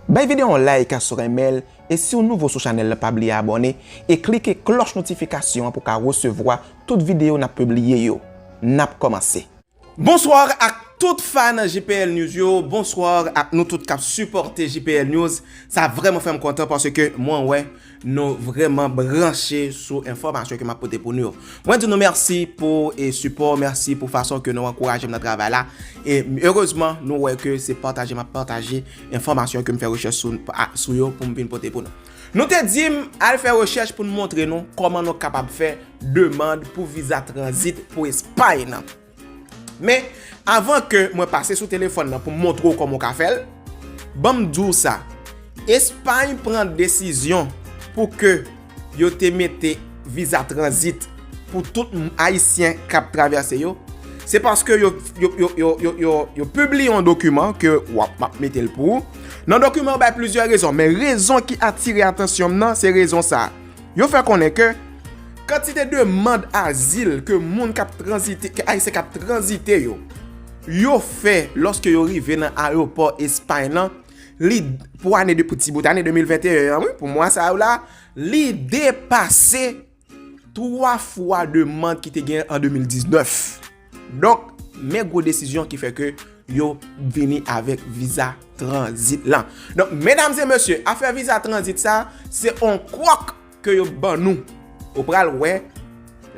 Bay video yon like si w renmen l e si w nouvo sou chanèl la pa bliye abòne e klike klòch notifikasyon an pou w ka resevwa tout video n ap pibliye yo. N ap kòmanse! Bonsoir ak tout fan jpl news yo, bonsoir ak nou tout kap sipòte jpl news, sa vrèman fèm kontan paske mwen wè Nou vreman branche sou enfomasyon ke map pote pou nou yo. Mwen di nou merci pou e sipo, merci pou fason ke nou ankouraje m nan travay la. E erezman nou wè ke se pataje map pataje enfomasyon ke m fè rechèch sou sou yo pou m vin pote pou nou. Nou te di m al fè rechèch pou nou montre nou koman nou kapab fè demand pou viza transit pou espay nan. Men, avan ke mwen pase sou telefòn nan pou m montre w kòman w ka fè l, ban m di w sa, Espay pran desizyon pou ke yo te mete viza tranzit pou tout Ayisyen k ap travèse yo, se paske yo pibliye yon dokiman ke w ap, m ap mete l pou ou. Nan dokiman an bay plizyè rezon, men rezon ki atire atansyon m nan se rezon sa a. Yo fè konnen ke kantite demand azil ke moun k ap tranzite, ke Ayisyen k ap tranzite yo, yo fè lòske yo rive nan ayewopò Espay lan, li, pou ane de, pou ti bout ane 2021 an wi, pou mwa sa yo la, li depase 3 fwa demand ki te gen an 2019. Donk, men gwo desizyon ki fè ke yo vini avèk viza tranzit lan. Donk, medam e mesye, afè viza tranzit sa, se on kòk ke yo ban nou. Ou pral wè,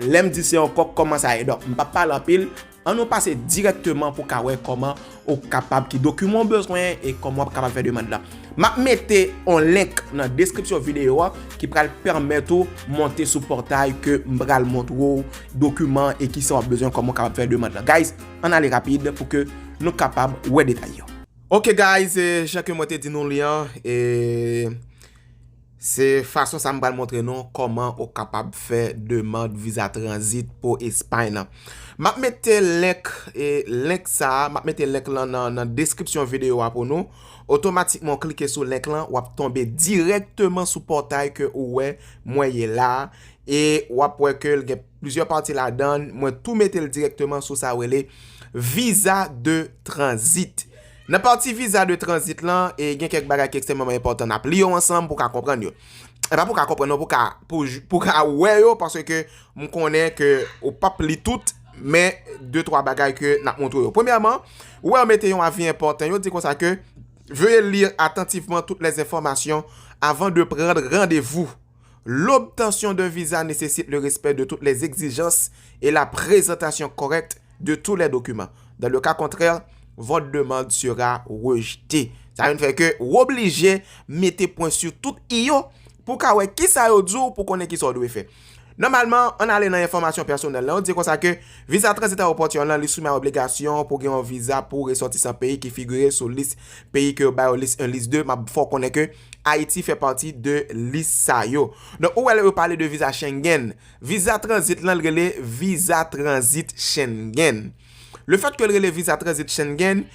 lè m di se on kòk, kòman sa ye. Donk, m pa pale anpil, an nou pase dirèkteman pou ka wè kòman Ou kapab ki dokiman ou bezwen e kòman wap kapab fè demand la. Map mete yon link nan deskripsyon videyo a ki pral pèmèt ou monte sou pòtay ke m pral montre ou dokiman e kisa wap bezwen kòman ou kapab fè demand la. Guys, ann ale rapid pou ke nou kapab wè detay yo. Ok guys, jan ke mwen te di nou li an e. Se fason sa m pral montre nou kòman ou kapab fè demand viza tranzit pou Espay lan. M ap mete link e link sa a, m ap mete link lan nan deskripsyon videyo a pou nou. Otomatikman ou klike sou link lan, w ap tonbe dirèkteman sou pòtay ke ou wè mwen ye la a e w ap wè ke l gen. Plizyè pati ladan, mwen tou mete l dirèkteman sou sa yo rele viza de tranzit. Nan pati viza de tranzit lan, e gen kèk bagay ki ekstèmeman enpòtan n ap li yo ansanm pou w ka konprann yo. E pa pou w ka konprann non, pou w ka, pou w ka wè yo paske m konnen ke ou p ap li tout, men de twa bagay ke n ap montre w yo. Premyèman, ou wè yo mete yon avi enpòtan, yo di konsa ke, Veuillez lire attentivement toutes les informations avant de prendre rendez-vous. L'obtention d'un visa necessite le respect de toutes les exigences et la présentation correcte de tous les documents. Dans le cas contraire, votre demande sera rejetée. Sa vin fè ke ou oblije mete pwen sou tout i yo pou w ka wè ki sa yo di w pou w konnen ki sa w dwe fè. Nòmalman, an ale nan enfòmasyon pèsonèl lan, yo di konsa ke Visa Transit Aeroport yon lan li soumè a obligasyon pou w gen yon viza pou resòtisan peyi ki figire sou lis peyi ke yo ba yo lis 1, lis 2, m ap fè w konnen ke. Ayiti fè pati de lis sa yo. Donk ou wè lè yo pale de viza Schengen, viza tranzit lan l rele viza tranzit Schengen. Le fèt ke l rele viza tranzit Schengen,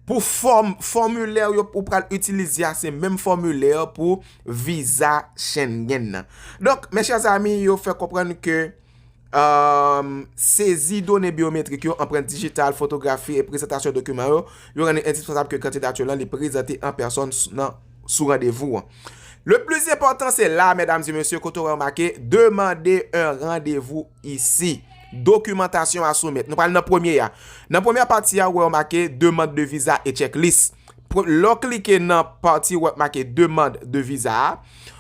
pou fòm, fòmilè yo ou pral itilize a se menm fòmilè pou viza Schengen nan. Donk, mes chers amis, yo fè konprann ke Sezi done byometrik yo, anprent dijital, fotografi e prezantasyon dokiman yo, yo rann li endispansab ke kandidati w lan li prezante an pèsòn sou randevou an. Le plis enpòtan se la, medam e mesye, kote w remake, demande un rendez-vous ici. Dokimantasyon a soumèt. Nou pral nan premye a. Nan premye pati a, ou wè yo make, demande de visa et checklist. Lè w klike nan pati wè k make demand de viza a,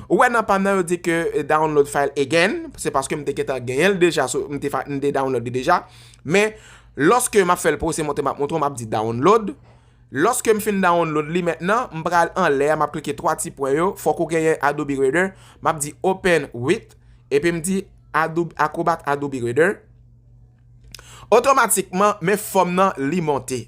ou wè nan pa m nan yo di ke download file again, se paske m te gentan genyen l deja, m te download li deja, men lòske m ap fè l pou w se montre m ap montre w m ap di download, lòske m fin download li mentnan, m pral anlè a m ap klike 3 ti pwen yo, fòk ou genyen Adobe Reader, m ap di open with, epi m di Acrobat Adobe Reader, otomatikman men fòm nan li monte.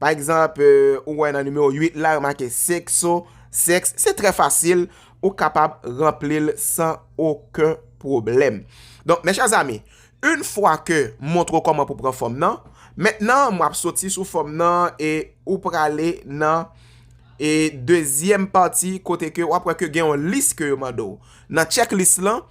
Pa egzanp, ou wè nan nimewo 8 la yo make sekso, sèks. Se trè fasil, ou kapab ranpli l san oken pwoblèm. Donk, mè chè zami, yn fwa ke m montre w kòman pou pran fòm nan, mentnan m ap soti sou fòm nan e ou prale nan e dezyèm pati kote ke w ap wè ke gen yon lis ke yo mande w. Nan tchèk lis lan,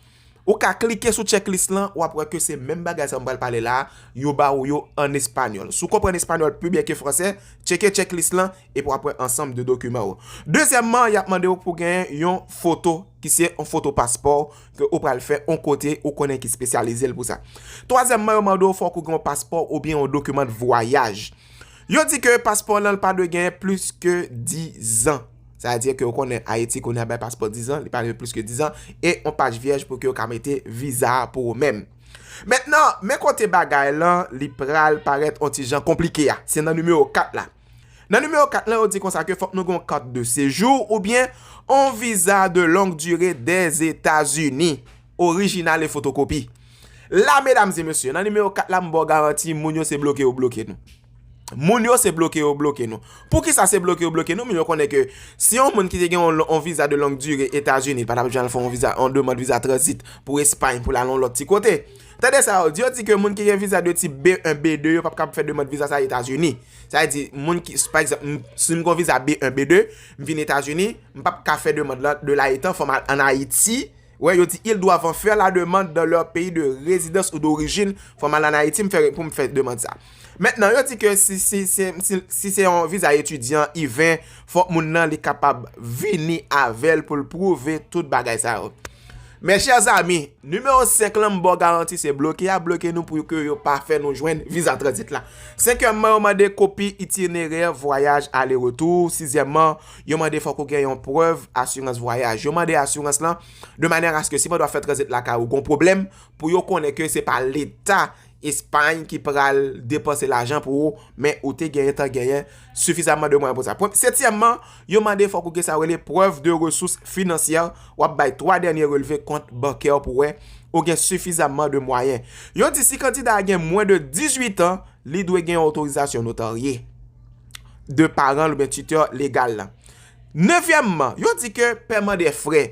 Ou ka klike sou checklist lan, wap wè ke se menm bagay sa mwen pral pale la a, yo ba ou yo an espanyòl. Si w konprann espanyòl pi byen ke fransè, tcheke checklist lan epi wap wè ansanm de dokiman ou. Dezyèmman, yap mande ou pou genyen yon foto ki se yon foto paspò w ke ou pral fè yon kote ou konnen ki spesyalize l pou sa. Twazyèmman, yo mande ou fòk ou gen yon paspò oubyen yon dokiman de vwayaj. Yo di ke paspò w lan pa dwe genyen plis ke dizan. Sa vle di ke ou konnen Ayiti kounye a bay paspò 10 an, li pa rive plis ke 10 an, e yon paj vyèj pou ke yo ka mete viza a pou ou menm. Mentnan, men kote bagay lan li pral parèt yon ti jan konplike a, se nan nimewo 4 la. Nan nimewo 4 lan yo di konsa ke fòk nou gen yon kart de sejou oubyen yon viza de long dire Dèzetazini, orijinal e fotokopi. La medam e mesye, nan nimewo 4 la m ba w garanti moun yo se bloke yo bloke nou. Moun yo se bloke yo bloke nou. Poukisa se bloke yo bloke nou? Moun yo konnen ke si yon moun ki te gen yon viza de long dure Etazini, li pa tap janl fè yon demand viza transit pou Espay pou lal yon lòt ti kote. Tande sa yo di, yo di ke moun ki gen viza de tip B1, B2 yo pap kab fè demand viza sa Etazini. Sa vle di, moun ki, pa egzanp, si m gen yon viza B1, B2, m vin Etazini, m pap ka fè demand la de la etan fòm an Ayiti. Wè yo di ils doivent en faire la demande dans leur pays de résidence ou d'origine, fòm al an Ayiti m fè pou m fè demand sa. Mentnan yo di ke si si se yon viza etidyan I-20 fòk moun nan li kapab vini avèl pou l prouve tout bagay sa yo. Mes chers amis, numéro 5 lan m baw garanti se bloke yap bloke nou pou ke yo pa fè nou jwenn viza tranzit la. Senkyèmman yo mande kopi itinerè vwayaj ale retour, sizyèmman Yo mande fòk ou gen yon prèv asirans vwayaj. Yo mande asirans lan de manè aske si pandan wap fè tranzit lakay ou gon pwoblèm, pou yo konnen ke se pa leta Espay ki pral depanse lajan pou ou, men ou te genyen tan genyen sifizamman de mwayen pou sa. Setyèmman, yo mande fòk ou gen sa yo rele prèv de resous finansyè, wap bay 3 dènye relve kont bankè w pou wè ou gen sifizamman de mwayen. Yo di si kandida a gen mwen de 18 an, li dwe gen yon otorizasyon notarye. de paran l oubyen titè legal la. Nevyèmman, yo di ke pèman de frè,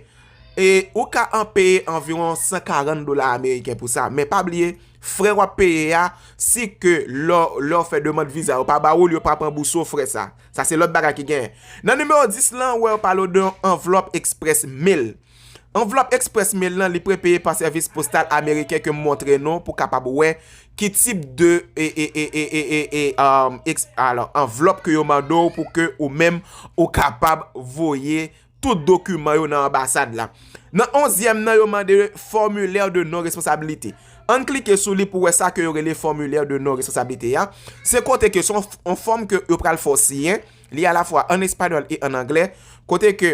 e ou ka an peye anviwon 140 dola ameriken pou sa, men pa bliye, frè w ap peye a, si ke lè w fè demand viza yo pa ba ou l, yo pa ap ranbouse w frè sa. Sa se lòt bagay ki genyen. Nan nimewo 10 lan, ou wè yo pale w de yon anvlòp eksprès mail. Anvlòp express mail lan li prepeye pa sèvis postal ameriken ke m montre nou pou kapab wè ki tip de anvlòp ke yo mande w pou ke ou menm ou kapab voye tout dokiman yo nan anbasad la. Nan onzyèm nan yo mande formilè de non responsabilite. Ann klike sou li pou wè sa ke yo rele formilè de non responsabilite ya. Se kote ke son fòm ke yo pral fè w siyen, li a la fwa an espanyòl e an anglè, kote ke.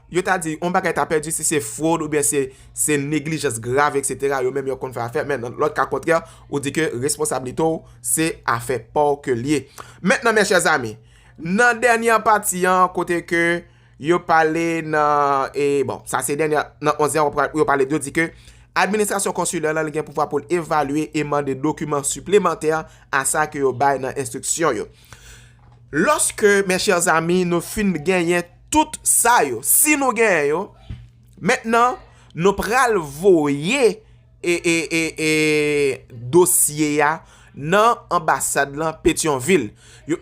Yo ta di yon bagay ta pèdi si se fwod oubyen se neglijans grav eksetera yo menm yo konn fè afè men nan lòt ka kontrè ou di ke responsablite w se afè pa w ke l ye. Mentnan mes chers amis nan dènyè pati an kote ke yo pale nan e bon sa se dènyè nan onzyèm an pou yo pale yo di ke administrasyon konsilè lan li gen pouvwa pou l evalye e mande dokiman siplemantè a sa ke yo bay nan enstriksyon yo. Loske mes chers amis nou fin genyen Tout sa yo, si nou gen yo, mentnan nou pral voye dosye ya nan anbasad lan Petyonvil.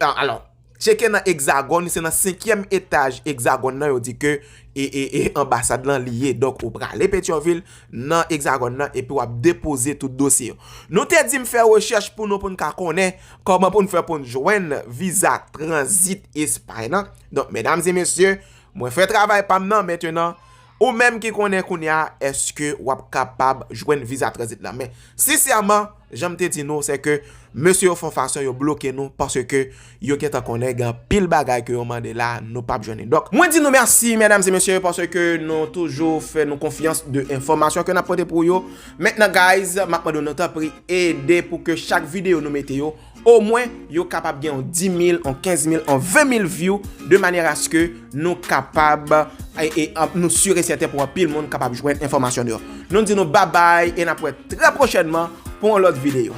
Alò, tcheke nan Exagòn, se nan senkyèm etaj Exagòn nan yo di ke anbasad lan li ye. Donk ou prale Petyonvil nan Exagòn nan epi wap depoze tout dosye yo. Nou te di m fè rechèch pou nou pou n ka konnen kòman pou n fè pou n jwenn viza tranzit Espay lan. Donk medam e mesye, mwen fè travay pam nan mentenan, ou menm ki konnen kounya eske wap kapab jwenn viza tranzit la. Men, sensèman, janm te di nou, sèke mesye yo fon fason yo bloke nou, paske yo gentan konnen gen anpil bagay ke yo mande la, nou pap jwenn li. Donk, mwen di nou mèsi medam e mesye, paske nou toujou fè nou konfyans de enfòmasyon ke nap pote pou yo. Mentenan guys, map mande nou tanpri ede pou ke chak videyo nou mete yo, O mwen, yo kapab gen yon 10 mil, yon 15 mil, yon 20 mil view, de manyer aske nou kapab, e nou sur e sèten pou anpil moun kapab jwenn enfòmasyon nou yo. Nou di nou babay, e nap wè trè pwochènman pou yon lòt videyo.